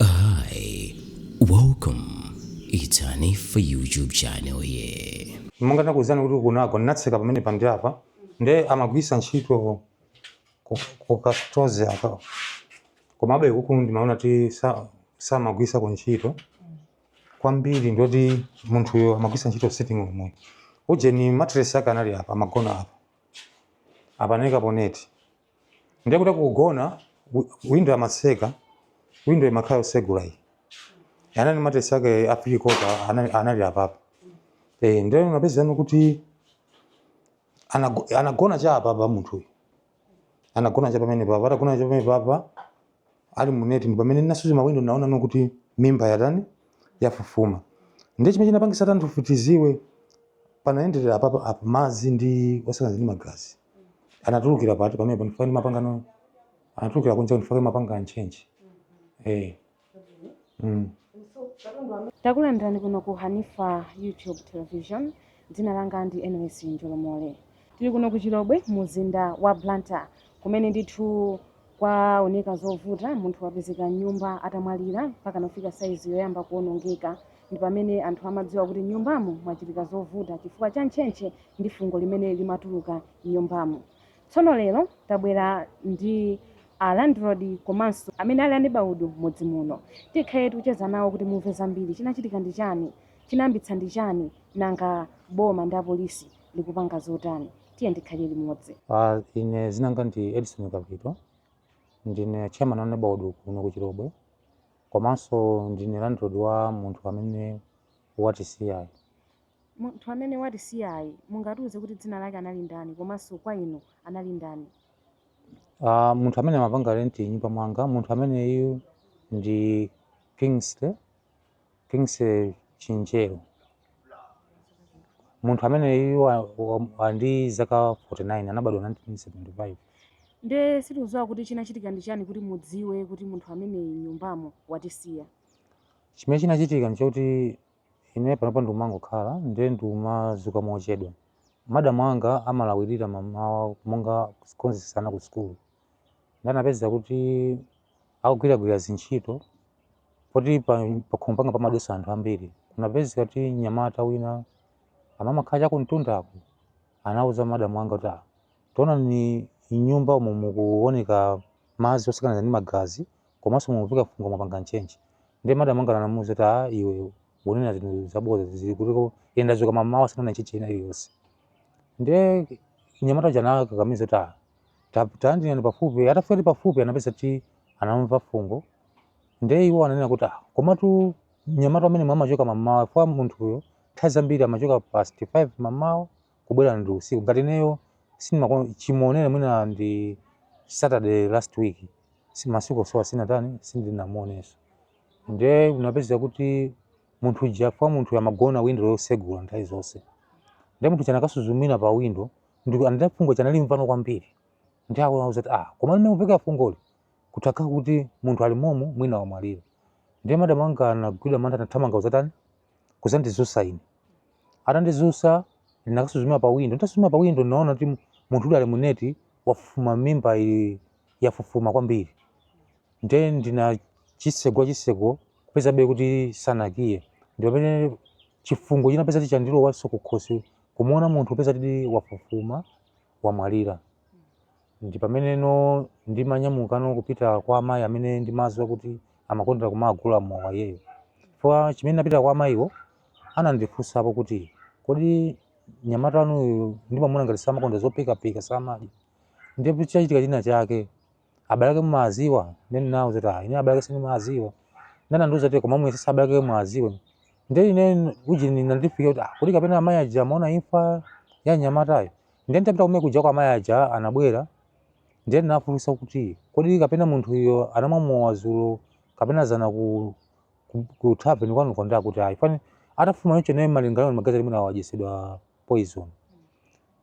Hi, welcome. It's Hanif for YouTube channel here. monga ndakuwuzani kuti kunako ndinatseka pamene pandili apa nde amagwisa ntchito ku- ku chauta aka komabe kuku ndimaona ti sa- samagwisa ku ntchito kwambiri ndoti munthuyo amagwisa ntchito sitting room ujeni mattress ake anali apa amagona apa amaika pa neti ndiye kuti akugona windo samatseka windo imakhala yosegula iyi onani matesi ake a fili kota anali, anali apapa e, ndiye unapeza kuti anago- anagona cha apapa munthuyu anagona cha pamene papa atagona cha pamene papa ali mu neti ndi pamene ndinasuzumira windo naona ndi kuti mimba yatani yafufuma ndiye chimene chinapangisa kuti anthufe tiziwe panayenderera apapa apa madzi osakaniza ndi magazi anatulukira pati pamene panifika ndi mapangano anatulukira kunja kunifika mapanga nchenji eh mm. takulandirani kuno ku hanifa youtube television dzina langa ndi ns njolomole Tili kuno ku Chilobwe mu mzinda wa Blantyre kumene ndithu kwaoneka zovuta. Munthu wapezeka m'nyumba atamwalira mpaka nafika saizi yoyamba kuonongeka. Ndi pamene anthu amadziwa kuti m'nyumbamo mwachitika zovuta chifukwa cha ntchentche ndi fungo limene limatuluka m'nyumbamo. Tsono lero tabwera ndi a landlord komanso amene ali anebaudu m'mudzi muno. Tikhale tikucheza nawo kuti mumve zambiri. Chinachitika ndi chani? Chinayambitsa ndi chani? Nanga boma ndi apolisi likupanga zotani tiyeni tikhale limodzi Ah, ine dzina langa ndi edison kapito ndine chairman wa nebaudu kuno ku chilobwe komanso ndine landlord wa munthu amene watisiyayi munthu amene watisiyayi mungatiuze kuti dzina lake anali ndani komanso kwa inu anali ndani Ah, munthu amene amapanga renti m'nyumba mwanga munthu ameneyu ndi kingsley Kingsley Chinjeru, munthu ameneyu wa- wa- wa ali ndi zaka 49 anabadwa 1975 nde sitikudziwa kuti chinachitika ndi chani kuti mudziwe kuti munthu ameneyi m'nyumbamo watisiya chimene chinachitika nchakuti ine panopa ndikumangokhala ndiye ndikumadzuka mochedwa madamu anga amalawirira mamawa monga kukonzesa ana ku sukulu nde anapeza kuti akugwiragwira zintchito poti pa- pakhomo panga pamadusa anthu ambiri kunapezeka kuti mnyamata wina amamakhala chakumtundako anauza madamu anga kuti "Ah, taonani m'nyumba umo mukuoneka madzi osakaniza ndi magazi komanso mukumveka fungo mwapanga nchenchi ndiye madamu anga anamuuza kuti "Ah, iwe ukunena zinthu zabodza zili kutiko ine ndadzuka mamawa sindinaone nchenchi ina iliyonse ndiye mnyamata uja anakakamiza kuti "Ah, Tayandikani pafupi. Atafika kuti pafupi anapeza kuti anamva fungo. Ndiye iwo ananena kuti, ah, komatu mnyamata ameneyu amachoka mamawa chifukwa munthuyo nthawi zambiri amachoka past 5 mamawa kubwera ndi usiku. Ngati ineyo sindimako chimuonere mwina ndi Saturday last week si masiku onsewa sinatani sindinamuonenso. Ndiye anapeza kuti munthu uja chifukwa munthuyo amagona window yosegula nthawi zonse. Ndiye munthu uja anakasuzumira pa window Ndipo anati fungo chanali mvano kwambiri. Ndiye awo anauza kuti, ah, koma mmene limveka fungoli kutakha kuti munthu ali momu mwina wamwalira. Ndiye madam anga anagwidwa mantha anathamanga kuzatani? Kudzandidzutsa ine. Atandidzutsa ndinakasuzumira pa window. Nditasuzumira pa window ndinaona kuti mu- munthu uyu ali mu neti wafufuma mimba ili yafufuma kwambiri. Ndiye ndinachitsegula chitseko kupezabe kuti sanakiye. Ndi pamene chifungo chinapeza kuti chandilowanso kukhosi Kumuona munthu kupeza kuti wafufuma wamwalira ndi pameneno ndimanyamukano kupita kwa amayi amene ndimawadziwa kuti amakondera kumagula mowa iyeyo chifukwa chimene napita kwa amayiwo anandifunsapo kuti kodi mnyamata wanuyu ndimamuona ngati samakondera zophikaphika samadya ndiye chikachitika china chake abalake mumawadziwa nde ndinawauza kuti ah ine abalake sindimawadziwa nde anandiuza kuti koma muyesetse abalake muwadziwe nde ine uje zinandifika kuti ah kuti kapena amayi aja amaona imfa ya mnyamatayo nde ntapita kumene kuja kwa amayi aja anabwera nde ndinafunsa kuti kodi kapena munthu uyo anamwa mowa dzulo kapena dzana ku ku, ku tavern kwanuko nde akuti ayi fani atafufuma choncho naye malingana magazi mmene wadyetsedwa poison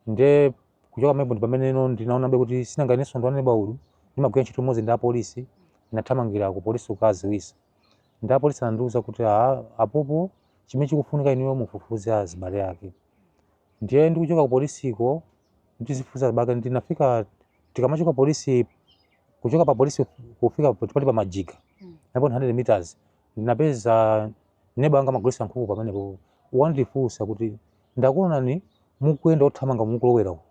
nde Kuchoka pamenepo ndi pameneno ndinaonabe kuti sinanga inenso ndi wa neighbourhood, ndimagwira ntchito limodzi ndi apolisi, ndinathamangira kupolisi kukawadziwitsa. Ndiye apolisi anandiuza kuti, Aa apopo, chimene chikufunika inuyo mufufuze azibale ake. Ndiye ndikuchoka kupolisiko kuti ndizifufuza azibale ake, ndinafika tikamachoka polisi, kuchoka papolisi kufika pati pa Majiga, about 100 meters, ndinapeza neba wanga amagulitsa nkhuku pamenepo. Wandifunsa kuti. Ndakuonani mukuyenda othamanga mukulowera uko.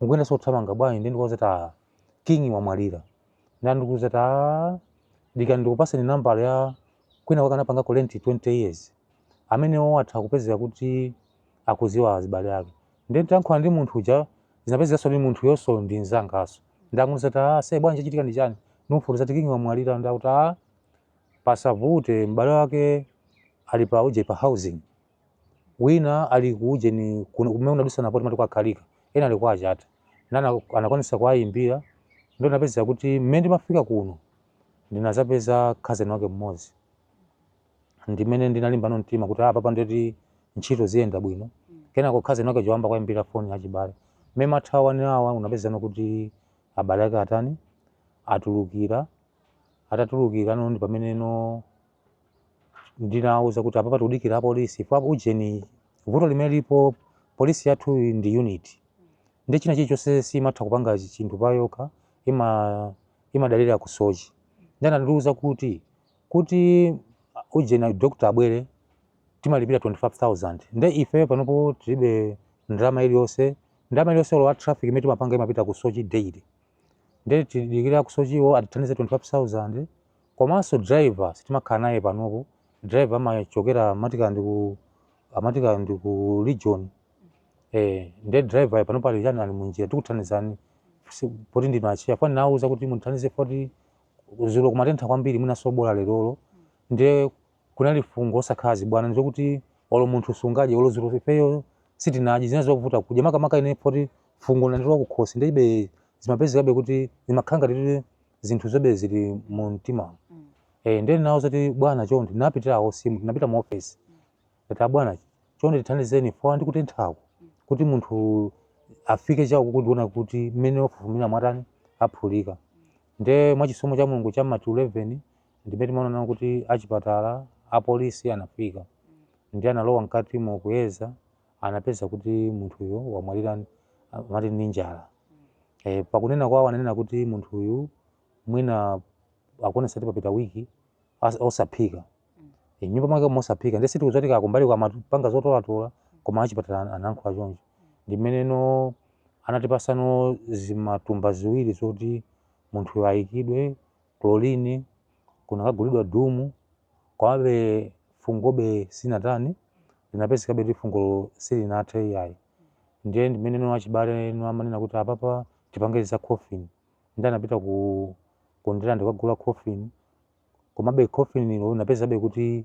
Mukuyendanso othamanga bwanji ndiye ndikuwauza kuti ah King wamwalira. Nde ndikuuza kuti ah dikirani ndikupatseni nambala ya kwina kwake anapangako rent 20 years. Amenewo atha kupezeka kuti akudziwa azibale ake. Ndiye nditayankhula ndi munthu uja zinapezekanso kuti munthuyonso ndi mzanganso. Ndamuuza kuti ah se bwanji chachitika ndi chani? Ndikumufotokoza kuti King wamwalira nde akuti ah pasavute m'bale wake ali pa uje pa housing. wina ali ku ujeni kuno kumene unadusana poti mati kwa Khalika ena ali kwa achata ndiye anakwanisa kuwayimbira ndiye ndinapeza kuti mmene ndimafika kuno ndinazapeza khazeni wake mmodzi ndimene ndinalimbano mtima kuti apapa ndiye kuti ntchito ziyenda bwino kenako khazeni wake anayamba kuwayimbira foni achibale mmene amathawani awa tinapezano kuti abale ake atani atulukira atatulukira no ndi pamene no ndinawauza kuti apapa tikudikira apolisi kwa ujeni vuto limene lipo polisi yathu ndi unit ndi china chilichonse simatha kupanga chinthu payokha imadalira ku Soche ndiye anandiuza kuti kuti ujeni doctor abwere timalipira 25000 nde ife panopo tilibe ndalama iliyonse ndalama iliyonse olo ya traffic imene timapanga imapita ku Soche daily nde tidikira ku Sochewo atithandize 25000 Komanso driver sitimakhala naye panopo, driver amachokera amati kaya ndi ku amati kaya ndi ku region. Eh, ndiye driver yo panopo ali chani ali munjira tikuthandizani si- poti ndinu acheya apa ndinawauza kuti mundithandize poti dzulo kumatentha kwambiri mwinanso bola lerolo ndiye Kunali fungo osakhala zibwana choti olo munthu sungadye olo dzulo ifeyo sitinadye zinali zovuta kudya makamaka ine poti fungo linandilowa kukhosi ndiye be zimapezekabe kuti zimakhala ngati kuti zinthu zobe zili mu mtimamu eh ndiye ndinawauza kuti bwana chonde ndinapitira a OC mu ndinapita mu office ndati abwana chonde tithandizeni poti ndikutenthaku kuti munthu afike chakuno kudzaona kuti mmene wafufumira mwina aphulika ndiye mwachisomo cha Mulungu cha mati 11 ndimene timaona kuti achipatala apolisi anafika ndiye analowa mkatimo kuyeza anapeza kuti munthuyo wamwalira mati ndi njala e, pakunena kwawo ananena kuti munthuyu mwina akuonesa kuti papita wiki osaphika e, nyumba mwake mosaphika ndiye sitikudziwa kuti kaya kumbali amapanga zotolatola koma achipatala anankhula choncho ndimene no anatipasano zimatumba ziwiri zoti munthuyo ayikidwe chlorine kunakagulidwa doom komabe fungobe sinatani linapezekabe kuti fungolo silinathe iyayi ndiye ndimene no achibale no amanena kuti apapa tipange za coffin ndiye anapita ku Ndirande kukagula coffin komabe coffin ilo linapezekabe kuti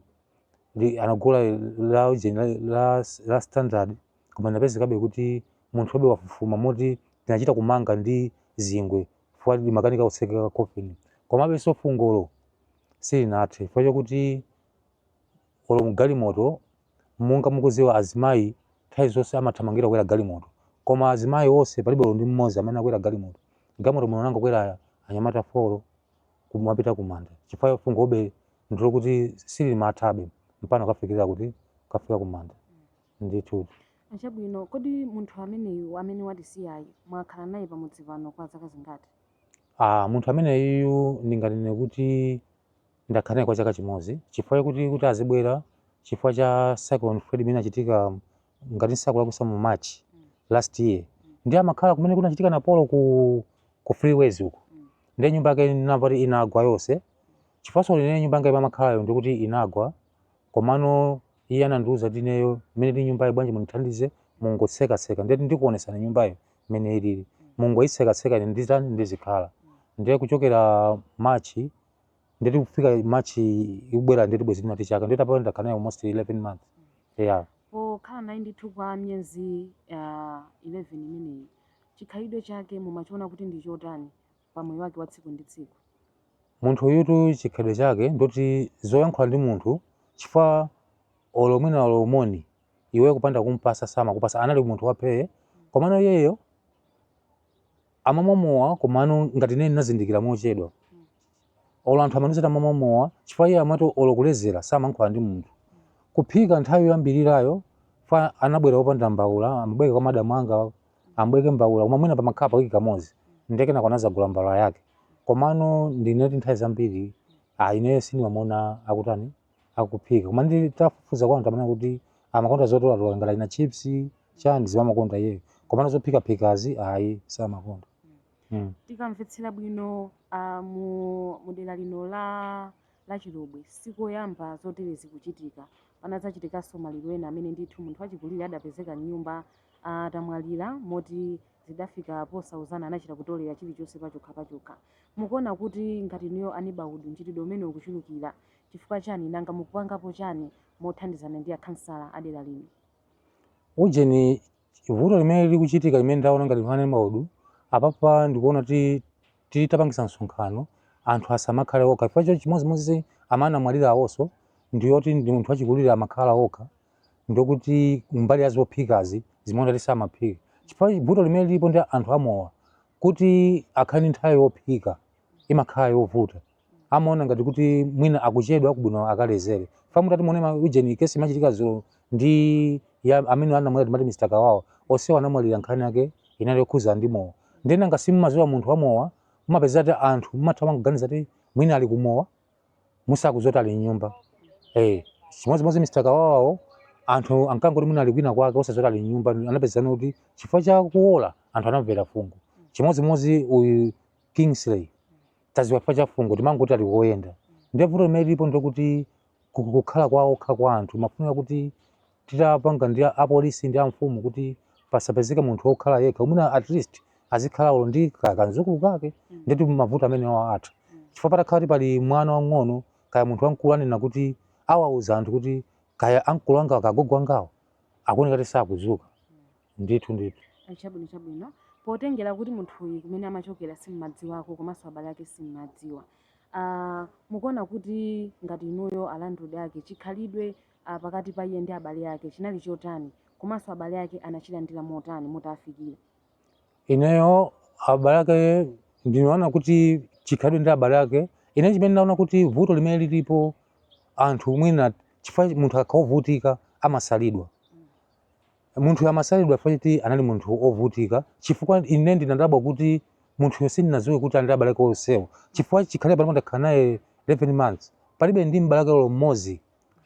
li anagula la ujeni la, la, la standard koma linapezekabe kuti munthu obe wafufuma moti tinachita kumanga ndi zingwe chifukwa limakanika kutsekeka coffin komabe so fungolo silinathe chifukwa chakuti olo mgalimoto monga mukudziwa azimayi nthawi zonse amathamangira kukwera galimoto koma azimayi onse palibe olo ndi mmodzi amene anakwera galimoto galimoto munangokwera anyamata folo kumapita kumanda chifukwa fungobe ndilokuti silimathabe mpano kafikira kuti kafika kumanda Ndithudi. Chabwino, kodi munthu ameneyu amene watisiyayu mwakhala naye pamudzi pano kwa zaka zingati? Aaa, munthu ameneyuyu ndinganene kuti ndakhala naye kwa chaka chimodzi chifukwa chakuti kuti azibwera chifukwa cha cyclone Freddy imene inachitika ngati ndisakulakwitsa mu March last year. Ndiye amakhala kumene kunachitika Napolo ku ku freeways uko. Ndiye nyumba yake ndinamva kuti inagwa yonse. Chifukwanso ine nyumba yanga imene amakhalayo ndikuti inagwa komano Iye anandiuza kuti ineyo mmene ili nyumbayi bwanji mundithandize mungotsekatseka ndeti ndikuonetsani nyumbayo mmene ilili. Mungoitsekatseka ine ndizitani ndizikhala. Ndiye kuchokera March ndeti kufika March ikubwera ndeti bwezi tinati chaka ndeti apa ndakhala naye almost 11 months. Yeah. Pokhala naye ndithu kwa miyezi ah, 11 imeneyi chikhalidwe chake mumachiona kuti ndi chotani? pa moyo wake wa tsiku ndi tsiku munthu uyutu chikhalidwe chake ndoti sayankhula ndi munthu chifukwa olo mwina olo moni iwe kupanda kumpatsa samakupatsa anali munthu waphee komano iyeyo amamwa mowa komano ngati ine ndinazindikira mochedwa olo anthu amandiuza kuti amamwa mowa chifukwa iye amati olo kulezera samankhula ndi munthu kuphika nthawi yoyambirirayo chifukwa anabwera opanda mbaula amabwereka kwa madamu anga amabwereka mbaula koma mwina pamakhala pawiki kamodzi ndiye kenako anadzagula mbaula yake komano ndinoti nthawi zambiri ah, ineyo sindimamuona akutani akuphika koma nditafufuza kwa anthu amanena kuti amakonda zotolatola ngati achina chips chani zimene amakonda iyeyo komano zophikaphikazi ayi samakonda mm. tikamvetsera bwino uh, mu, mu dera lino la la Chilobwe si koyamba zoterezi kuchitika. Panadzachitikanso maliro ena amene ndithu munthu wachikulire adapezeka m'nyumba atamwalira moti zidafika posauzana anachita kutolera chilichonse pachokhapachokha. Mukuona kuti ngati inuyo a neighborhood mchitidwe umenewu ukuchulukira chifukwa chani nanga mukupangapo chani mothandizana ndi akhansala a dera lino? Ujeni Vuto limene likuchitika limene ndaona ngati a neighborhood apapa ndikuona kuti titapangisa msonkhano anthu asamakhale okha chifukwa chimodzimodzi amene amwalira awonso ndiyoti ndi munthu wachikulire amakhala okha ndokuti mbali ya zophikazi zimaoneka kuti samaphika chifukwa vuto limene lilipo ndi anthu amowa kuti akhale ndi nthawi yophika imakhala yovuta amaona ngati kuti mwina akuchedwa kubwino akalezere chifukwa mutati muone ma ujeni kesi imachitika dzulo ndi ya amene anamwalira timati Mr. Kawawa onsewo anamwalira nkhani yake inali yokhudzana ndi mowa nde nanga si mumaziwa munthu wa mowa mumapeza kuti anthu mumatha kuganiza kuti mwina ali kumowa osadziwa kuti ali mnyumba eh chimodzimodzi Mr. Kawawawo anthu ankangoti mwina ali kwina kwake osadziwa kuti ali mnyumba anapezeka kuti chifukwa cha kuola anthu anamvera fungo chimodzimodzi uyu Kingsley taziwa chifukwa cha fungo timangoti ali koyenda ndiye vuto limene lilipo ndikuti kukhala kwa okha kwa anthu mafunika kuti titapanga ndi apolisi ndi amfumu kuti pasapezeke munthu wokhala yekha mwina at least azikhala olo ndi ka- kanzukulu kake ndiye kuti mavuto amenewa atha chifukwa patakhala kuti pali mwana wang'ono kaya munthu wamkulu anena kuti awauza anthu kuti kaya amkulu anga kaya agogo angawo akuoneka kuti sakuzuka ndithu ndithu chabwino chabwino potengera kuti munthuyu kumene amachokera simmadziwako komanso abale ake simmadziwa uh, mukuona kuti ngati inuyo a landlord ake chikhalidwe uh, pakati pa iye ndi abale ake chinali chotani komanso abale ake anachilandira motani atafikira ineyo abale ake ndinaona kuti chikhalidwe ndi abale ake ine chimene ndinaona kuti vuto limene lilipo anthu mwina chifukwa munthu akakhala ovutika amasalidwa Munthuyo amasalidwa chifukwa choti anali munthu wovutika, chifukwa ine ndinadabwa kuti munthuyo sindinadziwe kuti ali ndi abale ake onsewo, chifukwa chikhale panopa ndakhala naye 11 months, palibe ndi m'bale wake olo mmodzi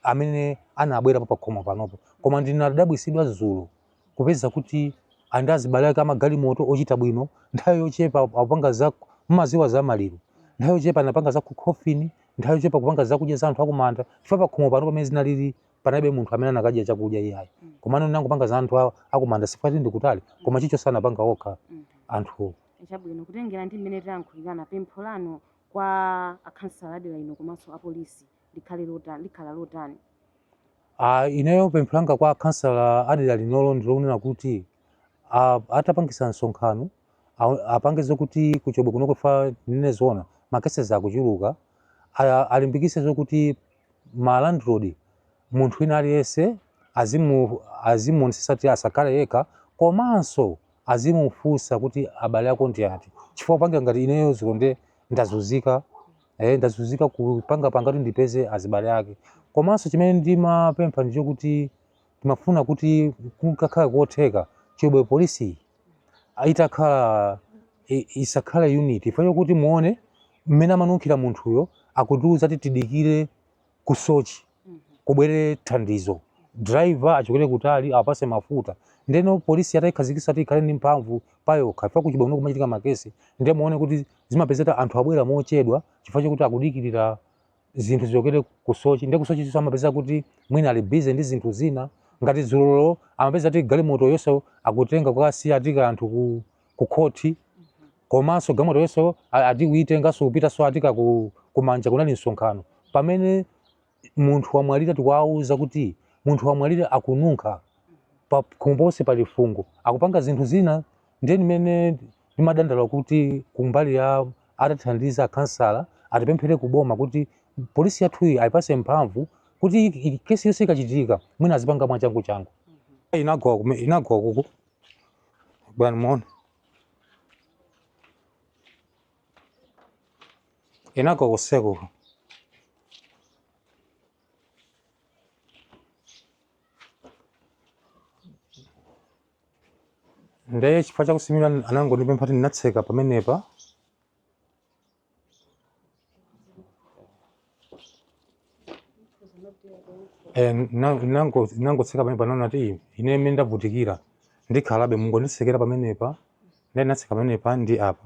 amene anabwerapo pakhomo panopo. Koma ndinadabwitsidwa dzulo kupeza kuti ali ndi azibale ake a magalimoto ochita bwino, nthawi yochepa akupanga za, mumadziwa za maliro, nthawi yochepa anapanga za coffin, nthawi yochepa kupanga zakudya za anthu akumanda, chifukwa pakhomo panopa mmene zinalili panalibe munthu amene akanadya chakudya iyayi mm. komano anangopanga za anthu awo akumanda chifukwa choti ndi kutali mm. koma chichonse anapanga okha mm. anthu chabwino kutengera ndi mmene tayankhulirana pempho lanu kwa akhansala adera lino komanso apolisi likhale lotani likhala lotani uh, ineyo pempho langa kwa akhansala adera linolo ndilonena kuti uh, atapangisa msonkhano apange zokuti kuchobwe kuno chifukwa ineyo ndaona makesezi akuchuluka alimbikise zokuti ma landlord munthu wina aliyense azimu azimuonesesa kuti asakhale yekha komanso azimufunsa kuti abale ako ndi ati chifukwa panga ngati ineyo dzulo nde ndazunzika eh, ndazunzika kupanga panga kuti ndipeze azibale ake komanso chimene ndimapempha ndi chokuti timafuna kuti kukakhala kotheka chobwe polisi itakhala i- isakhale unit chifukwa chokuti muone mmene amanunkhira munthuyo akutiuza kuti tidikire kusochi kubwere thandizo driver achokere kutali awapase mafuta ndeno polisi atayikhazikisa kuti ikhale ndi mphamvu payokha chifukwa kuchibwano kumachitika makesi ndiye muone kuti zimapezeka anthu abwera mochedwa chifukwa chokuti akudikirira zinthu zichokere ku sochi ndi kusochiso amapeza kuti mwina ali busy ndi zinthu zina ngati dzulolo amapeza kuti galimoto yonse akutenga kukasiya ati ka anthu ku, ku khoti komanso galimoto yonse a- ati kuitenganso kupitanso atika ku, kumanja kunali msonkhano pamene munthu wamwalira tikuwauza kuti munthu wamwalira akununkha pa Mbosi pali fungo akupanga zinthu zina ndiye ndimene ndimadandaula kuti kumbali ya atathandiza akhansala atipemphere ku boma kuti polisi yathuyi ayipase mphamvu kuti i- i- kesi yonse ikachitika mwina azipanga mwachangu changu inagwa kume- inagwa kuku bwana moni inagwa kuseko nde chifukwa chakusimira anangondipempha kuti ndinatseka pamenepa Eh, na- nango- nangotseka pamenepa naona kuti ine mmene ndavutikira ndikhalabe mungonditsekera pamenepa nde ndinatseka pamenepa ndi apa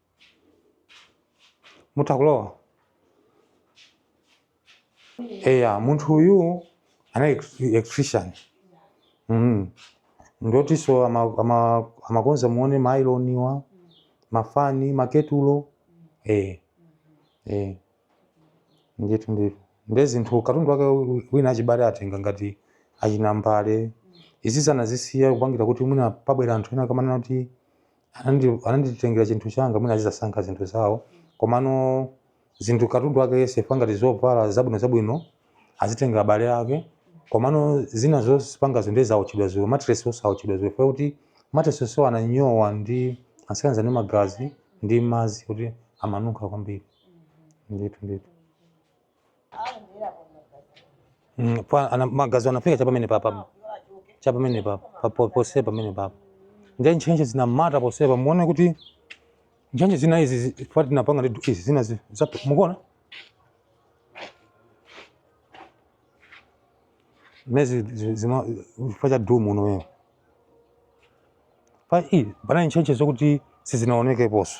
muta kulowa eya munthu uyu anali ex- electrician mm. ndotiso ama- ama- amakonza muone maayiloniwa mafani maketulo eh. eh. ndithu ndithu nde zinthu katundu wake wi- wina achibale atenga ngati achinambale izizi anazisiya kupangira kuti mwina pabwera anthu ena akamanena kuti anandi- ananditengera chinthu changa mwina azizasankha zinthu zawo komano zinthu katundu wake yense chifukwa ngati zovala zabwino zabwino azitenga abale ake komano zina zopangazo ndi zawotchedwa dzulo matiresinso awotchedwa dzulo chifukwa kuti matiresi onsewo ananyowa ndi anasakanizana ndi magazi ndi madzi kuti amanunkha kwambiri ndithu ndithu Mm, pa- ana- magazi anafika cha pamene papa cha pamene papa pa- po- pose pamene papa nde ntchentche zinamata posepa muone kuti ntchentche zina izi zi- pa tinapanga ndi du- izi zina zi- za- mukuona mezi zi- zifa chifukwa cha dumu womwewo pa i panali ntchentche zokuti sizinaonekeponso